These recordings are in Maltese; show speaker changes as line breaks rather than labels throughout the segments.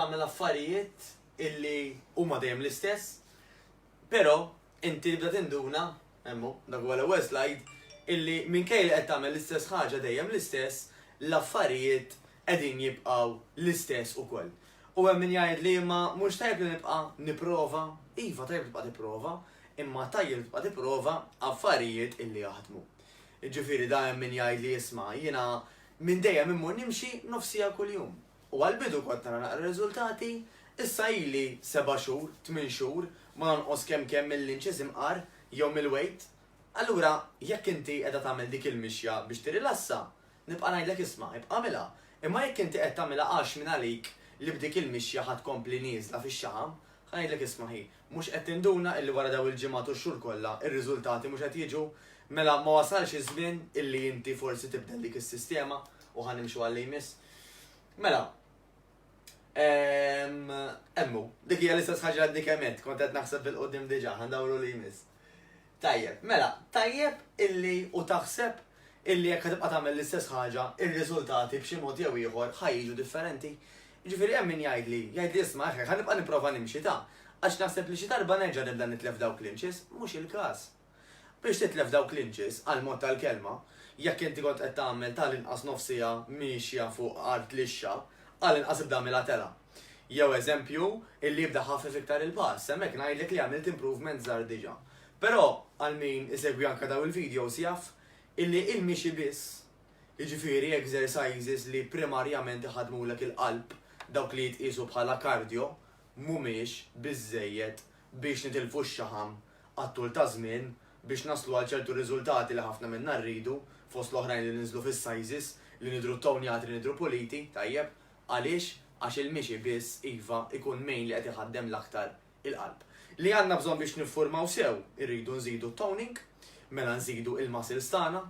Tagħmel affarijiet illi huma dejjem l-istess, però inti tibda tinduna, hemm hu, dak huwa l-ewwel slajd, illi minkejja li qed tagħmel l-istess ħaġa dejjem l-istess, l-affarijiet qegħdin jibqgħu l-istess ukoll. U hemm min jgħid li imma mhux tajjeb li nibqa' nipprova? Iva tajjeb tibqa' tipprova, imma tajjeb tibqa' tipprova affarijiet illi jaħdmu. Jiġifieri da hemm min jgħid li isma' jiena minn dejjem immur nimxi nofsija kuljum. U għall-bidu kont nara naqra r-riżultati, issa ili seba' xhur, tmien xhur, ma nonqos kemm kemm mill-inches imqar jew mill-weight. Allura jekk inti qiegħda tagħmel dik il-mixja biex tirilassa, nibqa' ngħidlek isma', ibqa' għamilha. Imma jekk inti qed tagħmilha għax mingħalik li b'dik il-mixja ħa tkompli nieżla fix-xaħam, ħa ngħidlek isma' ħi, Mhux qed tinduna illi wara dawn il-ġimgħat u x-xhur kollha, ir-riżultati mhux qed jiġu? Mela ma wasalx iż-żmien illi inti forsi tibdel dik is-sistema u ħa nimxu għal li jmiss? Mela, ehm, hemm hu. Dik hija l-istess ħaġa li għadni kemm għedt, kont qed naħseb 'il quddiem diġà, ħa ndawru li jmiss. Tajjeb, mela, tajjeb illi u taħseb illi jekk ħatibqa' tagħmel l-istess ħaġa, ir-riżultati b'xi mod jew ieħor ħa jiġu differenti. Jiġifieri hemm min jgħidli, jgħidli isma' eħe, ħa nibqa' nipprova nimxi ta', għax naħseb li xi darba nerġa' nibda nitlef dawk l-inches, mhux il-każ. Biex titlef dawk l-inches, għall-mod tal-kelma, jekk inti kont qed tagħmel ta' l-inqas nofs siegħa miexja fuq art lixxa, għall-inqas ibda għamilha telgħa. Jew eżempju, illi jibda jħaffef iktar il-pass, hemmhekk ngħidlek li għamilt improvement żgħar diġa. Però għal min isegwi anke dawn il-videos jaf illi il-mixi biss, jiġifieri exercises li primarjament iħaddmulek il-qalb, dawk li jitqiesu bħala cardio, mhumiex biżżejjed biex nitilfu x-xaħam għat-tul ta' żmien biex naslu għal ċertu riżultati li ħafna minna rridu, fost l-oħrajn li ninżlu fis-sizes, li nidhru ttonjati, li nidhru puliti, tajjeb. Għaliex? Għax il-mixi biss, iva, ikun mgħin li qed iħaddem l-aktar il-qalb. Li għandna bżonn biex niffurmaw sew? Irridu nżidu t-toning, mela nżidu il-muscles tagħna.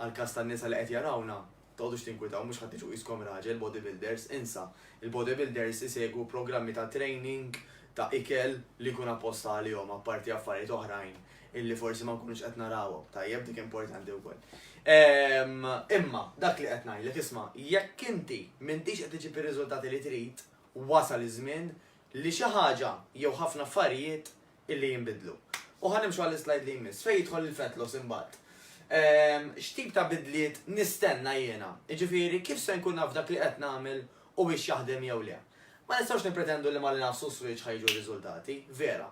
Għall-każ tan-nisa li qed jarawna, tqogħdux tinkwitaw, mhux ħadd iġu qiskom raġel, bodybuilders, insa. Il-bodybuilders isegwu programmi ta' training, ta' ikel, li jkun apposta għalihom, apparti affarijiet oħrajn illi forsi ma nkunux qed narawhom. Tajjeb, dik importanti wkoll. Ehm, imma, dak li qed ngħidlek, isma', jekk inti m'intix qed iġib ir-riżultati li trid, wasal iż-żmien li xi ħaġa jew ħafna affarijiet illi jinbidlu. U ħa nimxu għall-islajd li jmiss, fejn jidħol il-fat loss imbagħad. Ehm, x'tip ta' bidliet nistenna jiena? Jiġifieri kif se nkun naf dak li qed nagħmel u biex jaħdem jew le? Ma nistgħux nippretendu li ma li nafsu switch ħajġu r-riżultati, vera.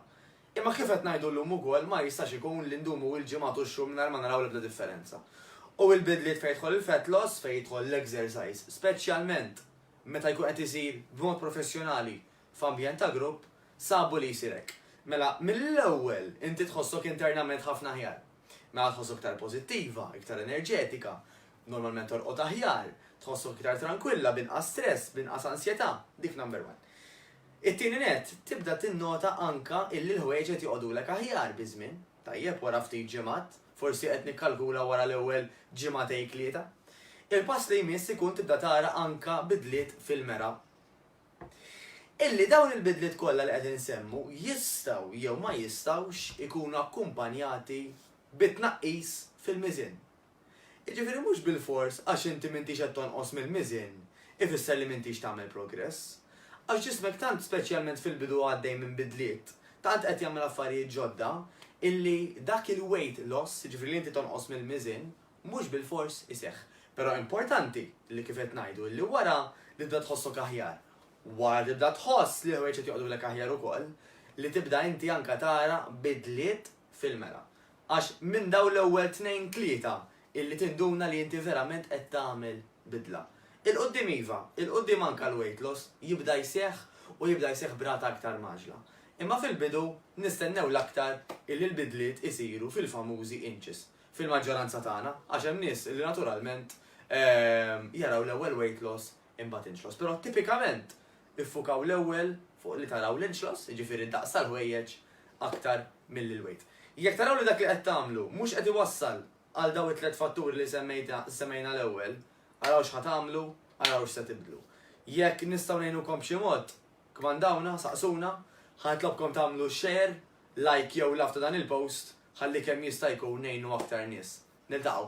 Imma kif qed ngħidu llum ukoll ma jistax ikun li ndumu il-ġimgħat u x-xhur mingħajr ma naraw l-ebda differenza. U il-bidliet fejn jidħol il-fat loss, fejn jidħol l-exercise, speċjalment meta jkun qed isir b'mod professjonali f'ambjent ta' grupp, sabu li jsir hekk. Mela mill-ewwel inti tħossok internament ħafna aħjar. Mela tħossok iktar pożittiva, iktar enerġetika, normalment torqod aħjar, tħossok iktar trankwilla, b'inqas stress, b'inqas ansjetà, dik number one. It-tieni nett, tibda tinnota anke illi l-ħwejjeġ qed joqogħdulek aħjar biż-żmien. Tajjeb, wara ftit ġimgħat, forsi qed nikkalkula wara l-ewwel ġimgħatejtlieta. Il-pass li jmiss ikun tibda tara anke bidliet fil-mera. Illi dawn il-bidliet kollha li qed insemmu jistgħu jew ma jistgħux ikunu akkumpanjati bi tnaqqis fil-miżien. Jiġifieri mhux bilfors għax inti m'intix qed tonqos mill-miżien ifisser li m'intix tagħmel progress. Għax ġismek tant speċjalment fil-bidu għaddej minn bidliet, tant qed jagħmel affarijiet ġodda illi dak il-weight loss, jiġifieri li inti tonqos mill-miżien, mhux bilfors iseħħ. Però importanti li kif qed ngħidu illi wara li tibda tħossok aħjar, wara tibda tħoss li l-ħwejjeġ qed joqgħdulek aħjar ukoll, li tibda inti anke tara bidliet fil-mela. Għax minn dawn l-ewwel tnejn tlieta illi tinduna li inti verament qed tagħmel bidla. Il-quddiem iva, il-quddiem anke l-weight loss jibda jseħħ u jibda jseħħ b'rata aktar mgħaġġla. Imma fil-bidu nistennew l-aktar illi l-bidliet isiru fil-famużi inches, fil-maġġoranza tagħna, għax hemm nies illi naturalment jaraw l-ewwel weight loss imbagħad inċlos, però tipikament iffukaw l-ewwel fuq li taraw l-inċlos, jiġifieri d-daqs tal-ħwejjeġ aktar milli l-weight. Jekk taraw li dak li qed tagħmlu mhux qed iwassal għal dawn it-tliet fatturi li semmejna l-ewwel, araw x'ħa tagħmlu, araw x'se tibdlu. Jekk nistgħu ngħinukom b'xi mod, kmandawna, saqsuna, ħa nitlobkom tagħmlu share, like jew love ta' dan il-post ħalli kemm jista' jkun ngħinu aktar nies. Niltaqgħu!